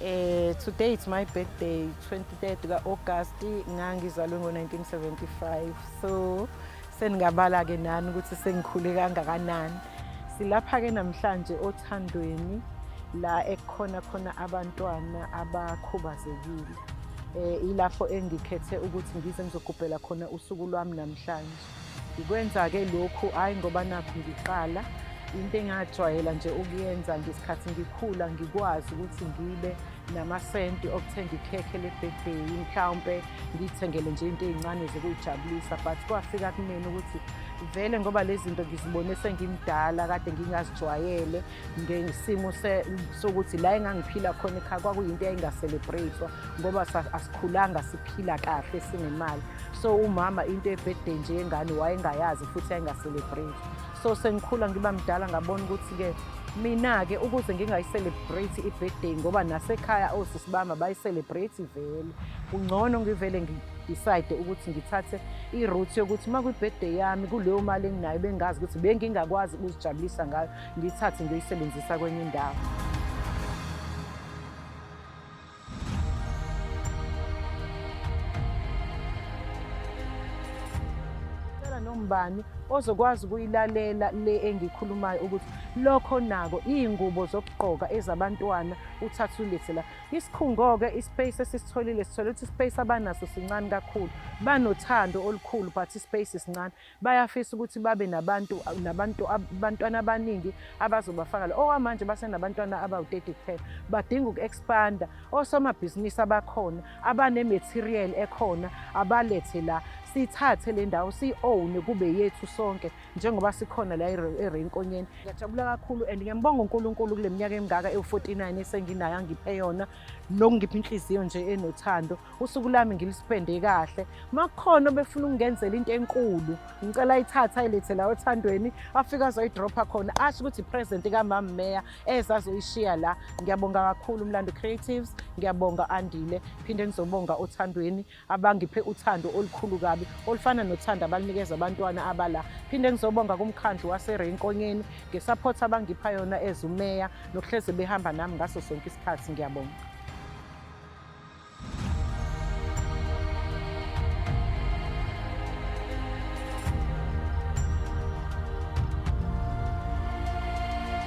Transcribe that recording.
Eh today it's my birthday 23 ka August ngangizalwe ngo 1975 so seningabala ke nani ukuthi sengikhule kangakanani silapha ke namhlanje othandweni la ekhona khona abantwana abakhubazekile eh ilapho engikhethe ukuthi ngize ngizogubhela khona usuku lwami namhlanje Ngikwenza-ke lokhu hhayi ngoba nakhu ngiqala into engajwayela nje ukuyenza ngesikhathi ngikhula ngikwazi ukuthi ngibe namasenti okuthenga ikhekhe lebhebheyi mhlawumpe ngiyithengele nje into ey'ncane zokuyijabulisa but kwafika kumina ukuthi vele ngoba lezi zinto ngizibone sengimdala kade ngingazijwayele ngesimo sokuthi la engangiphila khona ekhaya kwakuyinto eyayingaselebreyithwa ngoba asikhulanga siphila kahle sinemali so umama into ebhede nje yengane wayengayazi futhi yayingaselebreyithwa so sengikhula ngiba mdala ngabona ukuthi-ke mina-ke ukuze ngingayiselebreythi i-birthday ngoba nasekhaya osisi bami abayiselebreythi vele kungcono ngivele ngidecide ukuthi ngithathe i-route yokuthi uma kwi-birthday yami kuleyo mali enginayo bengazi ukuthi bengingakwazi ukuzijabulisa ngayo ngiyithathe ngiyoyisebenzisa kwenye indawo nombani ozokwazi ukuyilalela le engikhulumayo ukuthi lokho nako iy'ngubo zokugqoka ezabantwana uthathulise la isikhungo-ke ispace esisitholile sithole ukuthi ispace abanaso sincane kakhulu banothando olukhulu but ispace sincane bayafisa ukuthi babe nabantu nabantu abantwana abaningi abazobafaka la okwamanje basenabantwana abawu-30 kuphela badinga uku-expanda osomabhizinisi abakhona abanematerial ekhona abalethe la sithathe le ndawo siyi-own kube yethu sonke njengoba sikhona la erenkonyeni ngiyajabula kakhulu and ngiyambonga unkulunkulu kule minyaka emingaka ewu-49 esenginayo angiphe yona nokungipha inhliziyo nje enothando usuku lami ngilispende kahle makhona obefuna ukungenzela into enkulu ngicela ayithatha ayilethe la othandweni afike azoyidropha khona asho ukuthi present kamama meya eza azoyishiya la ngiyabonga kakhulu umlando creatives ngiyabonga andile phinde ngizobonga othandweni abangiphe uthando olukhulu kabi olufana nothando abalunikeza abantwana abala phinde ngizobonga kumkhandlu waserenkonyeni ngesaphotha abangipha yona ezumeya nokuhleze behamba nami ngaso sonke isikhathi ngiyabonga